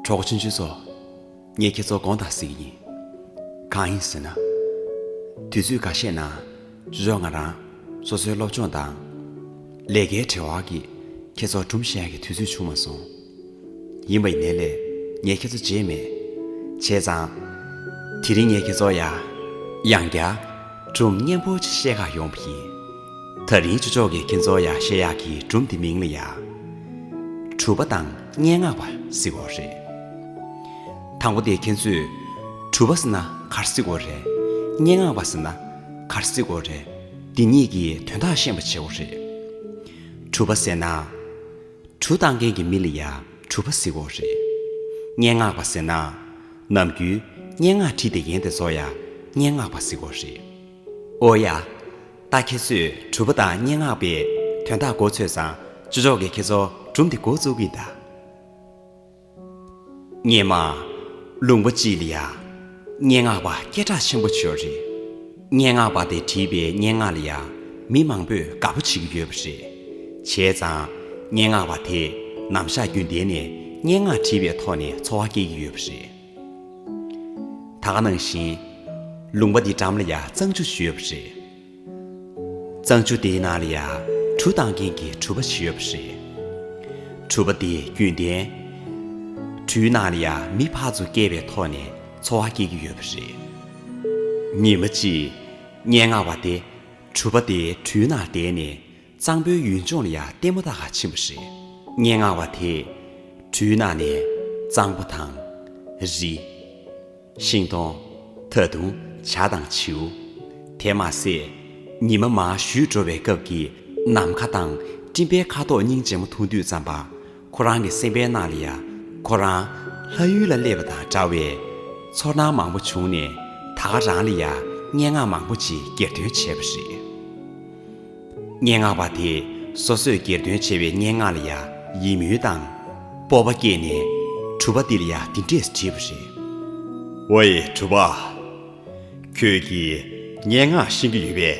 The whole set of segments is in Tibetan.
གྲོགས་ཆུང་ཆུང་ཚོ། ངས་ཁྱེད་ཚོ་གང་དག་གཟིགས་ཡིན། གང་ཡིན་ཟེར་ན། དུས་ཚོད་འགའ་ཤས་ནང་བཟོད་ང་རང་སོ་སོའི་སློབ་སྦྱོང་དང། ལས་ཀའི་བྲེལ་བ་གིས་ཁྱེད་ཚོར་གྲུམ་བཤལ་གྱི་དུས་ཚོད་བྱུང་མ་སོང། ཡིན་པ་ཡིན། ངས་ལས། ངས་ཁྱེད་ཚོ་བརྗེད་མེད། བྱས་ཙང། དེ་རིང་ངས་ཁྱེད་ཚོར་ཡ། ཡང་བརྒྱ། གྲུམ་སྙན་པོ་ཆེ་བཤད་ཁག་ཡོང་བ་ཡིན། ད་རིང་ཆུ་ལྕོག་གིས་ཁྱེད་ཚོར་ཡ་བཤད་ཡག་གི་གྲུམ་དེ་མིང་ལ་ཡ། གྲུ་པ་དང་སྙན་ངག་པ་བསྲེ་བོ་རེད། དང་པོ་དེ་ཁྱེད་ཚོས། གྲུ་པ་ཟེར་ན་གར་བསྲེ་བོ་རེད། སྙན་ངག་པ་ཟེར་ན། གར་བསྲེ་བོ་རེད། འདི་གཉིས་ཀྱི་དོན་དག་ཤེས་པ་བྱེད་བོ་རེད། གྲུ་པ་ཟེར་ན། གྲུ་བཏགས་མཁན་གྱི་མི་ལ་ཡང་གྲུ་པ་ཟེར་འོག་རེད། སྙན་ངག་པ་ཟེར་ན། ནམ་རྒྱུན་སྙན་ངག་བྲིས་ཏེ་ཡན་དེ་ཚོ་ཡང་སྙན་ངག་པ་ཟེར་འོག་རེད། ཨོ་ཡ། ད་ཁྱེད་ཚོས་གྲུ་པ་དང་སྙན་ངག་པའི་དོན་དག་མགོ་ཚོས་ཙང་ཅི་ཆོག་གི་ཁྱེད་ཚོ་གྲུམ་དེ་མགོ་བཙུགས་གི་གདའ། སྙེ་མ། ལུང་པ་སྤྱི་ལ་ཡ། སྙེ་ངག་པ་སྐད་གྲགས་ཆེན་པོ་བྱོས་རེད། སྙེ་ངག་པ་དེ་བྲིས་པའི་སྙེ་ངག་ལ་ཡ། མི་མང་པོས་དགའ་པོ་བྱེད་ཀྱི་ཡོད་པ་རེད། བྱས་ཙང། སྙེ་ངག་པ་དེས་ནམ་ཞག་རྒྱུན་ལྡན་ནས་སྙེ་ངག་བྲིས་པའི་ཐོག་ནས་འཚོ་བ་སྐྱེལ་གྱི་ཡོད་པ་རེད། ད་ག་ནང་བཞིན། ལུང་པ་འདི་འགྲམ་ལ་ཡ་གཙང་ཆུ་བྱོས་པ་རེད། གཙང་ཆུ་དེའི་ནང་ལ་ཡང་གྲུ་བཏང་མཁན་གྱི་གྲུ་པ་ཞིག་ཡོད་པ་རེད། གྲུ་པ་དེ་རྒྱུན་ལྡན། གྲུའི་ནང་ལ་ཡང་མི་ཕར་ཚུར་བསྐྱལ་བའི་ཐོག་ནས་འཚོ་བ་སྐྱེལ་གྱི་ཡོད་པ་རེད། ཉིན་མ་གཅིག་སྙན་ངག་པ་དེ་གྲུ་པ་དེའི་གྲུའི་ནང་བསྡད་ནས་གཙང་པོའི་ཡུལ་ལྗོངས་ལ་ཡང་ལྟད་མོ་ད་ག་ཕྱིན་པ་རེད། སྙན་ངག་བ་དེས། འཕྲུལ་ནག་ནས། གཙང་པོ་དང། རི། ཤིང་སྡོང། ད་དུང། བྱ་དང་བྱིའུ། དེ་མ་ཟད། ཉི་མ་མ་བཞུད་འགྲོ་བའི་སྐབས་ཀྱི་ནམ་མཁའ་དང་སྤྲིན་པའི་ཁ་དོག་སྙིང་རྗེ་མོ་ཐུང་དུས་ཙམ་པ། ཁོ་རང་གི་སེམས་པའི་ནང་ལ་ཡང་ཁོ་རང་ལྷ་ཡུལ་ལ་སླེབས་པ་དང་འདྲ་བའི་ཚོར་སྣང་མང་པོ་བྱུང་ནས་ད་ག་རང་ལ་ཡང་སྙན་ངག་མང་པོ་ཅིག་གྱེར་འདོན་བྱས་པ་རེད། སྙན་ངག་པ་དེ་སོ་སོས་གྱེར་འདོན་བྱས་པའི་སྙན་ངག་ལ་ཡང་ཡིད་སྨོན་དང་སྤོབས་པ་སྐྱེས་ནས་གྲུབ་པ་འདི་ལ་ཡང་འདི་འདྲས་བྲིས་པ་རེད། ཝེ་གྲུབ་པ། ཁྱོད་ཀྱིས་སྙན་ངག་ཤེས་ཀྱི་ཡོད་པས།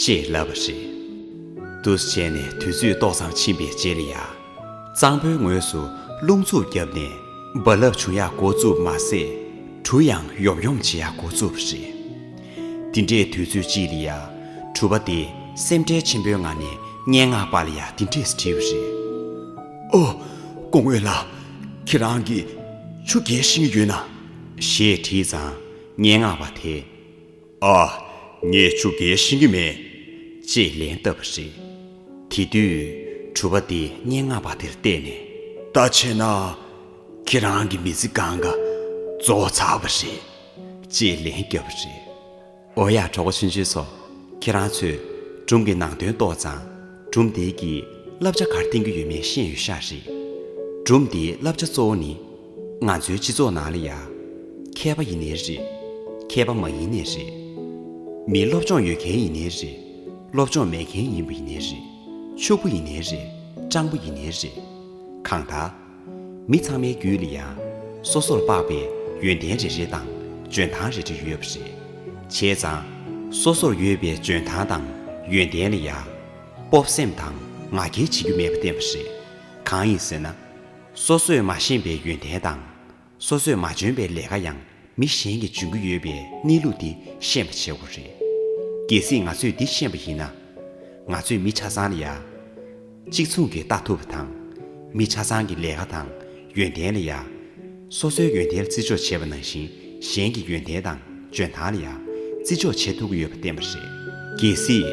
ཅེས་ལབ་པ་རེད། འདུ་བྱེད་ནས་དུས་ཚོད་ཏོག་ཙམ་ཕྱིན་པའི་རྗེས་ལ་ཡ། གཙང་པོའི་ངོས་སུ་རླུང་འཚུབ་བརྒྱབ་ནས་རྦ་རླབས་བྱུང་ཡག་འགོ་བཙུགས་མ་ཟད། གྲུ་ཡང་ཡོམ་ཡོམ་བྱེད་ཡག་འགོ་བཙུགས་པ་རེད། འདི་འདྲའི་དུས་ཚོད་ཅིག་ལ་ཡ། གྲུ་པ་དེ་སེམས་ཁྲལ་ཆེན་པོའི་ངང་ནས་སྙན་ངག་པ་ལ་ཡ་འདི་འདྲས་བྲིས་པ་རེད། ཨོ། ཀོང་བོད་ལགས། ཁྱེད་རང་གིས་ཆུ་རྒྱས་ཤིང་ཡོད་ན། ཞེས་བྲིས་ཙང་སྙན་ངག་པ་དེས། ཨ། ངས་ཆུ་འགེལ་ཤེས་ཀྱི་མེད། ཅེས་ལན་བཏབ་པ་རེད། དེ་དུས། གྲུ་པ་དེས་སྙན་ངག་པ་དེར་བལྟས་ནས། ད་བྱས་ན། ཁྱེད་རང་གི་མི་ཚེ་གང་ག་རྫོགས་ཚར་བ་རེད། ཅེས་ལན་བརྒྱབ་པ་རེད། ཨོ་ཡ་གྲོགས་པོ་ཆུང་ཆུང་ཚོ། ཁྱེད་རང་ཚོས་སྒྲུང་གི་ནང་དོན་ཏོག་ཙམ། སྒྲུང་དེའི་གི་བསླབ་བྱ་གར་བསྟན་གྱི་ཡོད་མེད་ཤེས་ཡོད་ཤག་རེད། སྒྲུང་དེའི་བསླབ་བྱ་གཙོ་བོ་ནི། ང་ཚོའི་སྤྱི་ཚོགས་ནང་ལ་ཡང། མཁས་པ་ཡིན་ནི་རེད། མཁས་པ་མ་ཡིན་ནི་རེད། མི་སློབ་སྦྱོང་ཡོད་མཁན་ཡིན་ནི་རེད། སློབ་སྦྱོང་མེད་མཁན་ཡིན་པ་ཡིན་ནི་རེད། ཕྱུག་པོ་ཡིན་ནི་རེད། སྤྲང་པོ་ཡིན་ནི་རེད། གང་ལྟར། མི་ཚང་མའི་རྒྱུད་ལ་ཡང། སོ་སོར་དཔག་པའི་ཡོན་ཏན་རེ་རེ་དང་འཇོན་ཐང་རེ་རེ་ཡོད་པ་རེད། བྱས་ཙང། སོ་སོར་ཡོད་པའི་འཇོན་ཐང་དང་ཡོན་ཏན་ལ་ཡང། སྤོབས་སེམས་དང་ང་རྒྱལ་བྱེད་རྒྱུ་མེད་པ་བསྟན་པ་རེད། གང་ཡིན་ཟེར་ན། སོ་སོས་མ་ཤེས་པའི་ཡོན་ཏན་དང། སོ་སོས་མ་འཇོན་པའི་ལས་ཀ་ཡང་མི་གཞན་གྱིས་འཇོན་གྱི་ཡོད་པའི་གནས་ལུགས་འདི་ཤེས་པ་བྱེད་དགོས་རེད། གལ་སྲིད་ང་ཚོས་འདི་ཤེས་པ་ཡིན་ན། ང་ཚོས་མི་ཆ་ཚང་ལ་ཡང་གཅིག་མཚུངས་ཀྱིས་ལྟ་ཐུབ་པ་དང། མི་ཆ་ཚང་གི་ལས་ཀ་དང་ཡོན་ཏན་ལ་ཡང། སོ་སོའི་ཡོན་ཏན་ལ་བརྩི་འཇོག་བྱེད་པ་ནང་བཞིན་གཞན་གྱི་ཡོན་ཏན་དང་འཇོན་ཐང་ལ་ཡང་བརྩི་འཇོག་བྱེད་ཐུབ་ཀྱི་ཡོད་པ་བསྟན་པ་རེད། གལ་སྲིད།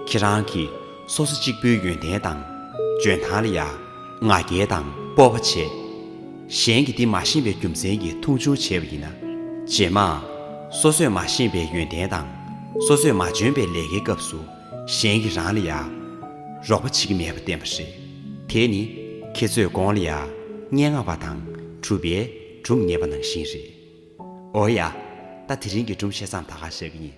ཁྱེད་རང་གིས་སོ་སོ་གཅིག་པུའི་ཡོན་ཏན་དང། འབྱོན་ཐང་ལ་ཡ་ང་བརྒྱད་དང་སྤོབས་པ་ཆེ། གཞན་གྱིས་འདི་མ་ཤེས་པའི་རྒྱུ་མཚན་གྱིས་འཐུང་ཆུང་བྱས་པ་ཡིན་ན། རྗེས་མ། སོ་སོས་མ་ཤེས་པའི་ཡོན་ཏན་དང། སོ་སོས་མ་འབྱོན་པའི་ལས་ཀའི་སྐབས་སུ། གཞན་གྱིས་རང་ལ་ཡ། རོགས་པ་བྱེད་ཀྱི་མེད་པར་བསྟན་པ་རེད། དེས་ནི། ཁྱེད་ཚོས་དགོངས་ལ་ཡ། སྙན་ངག་པ་དང། གྲུབ་པའི། གྲུབ་ངེས་པ་ནང་བཞིན་རེད། འོ་ཡ། ད་དེ་རིང་གི་སྒྲུང་བཤད་མཚམས་ད་ག་བཞག་གི་ཡིན།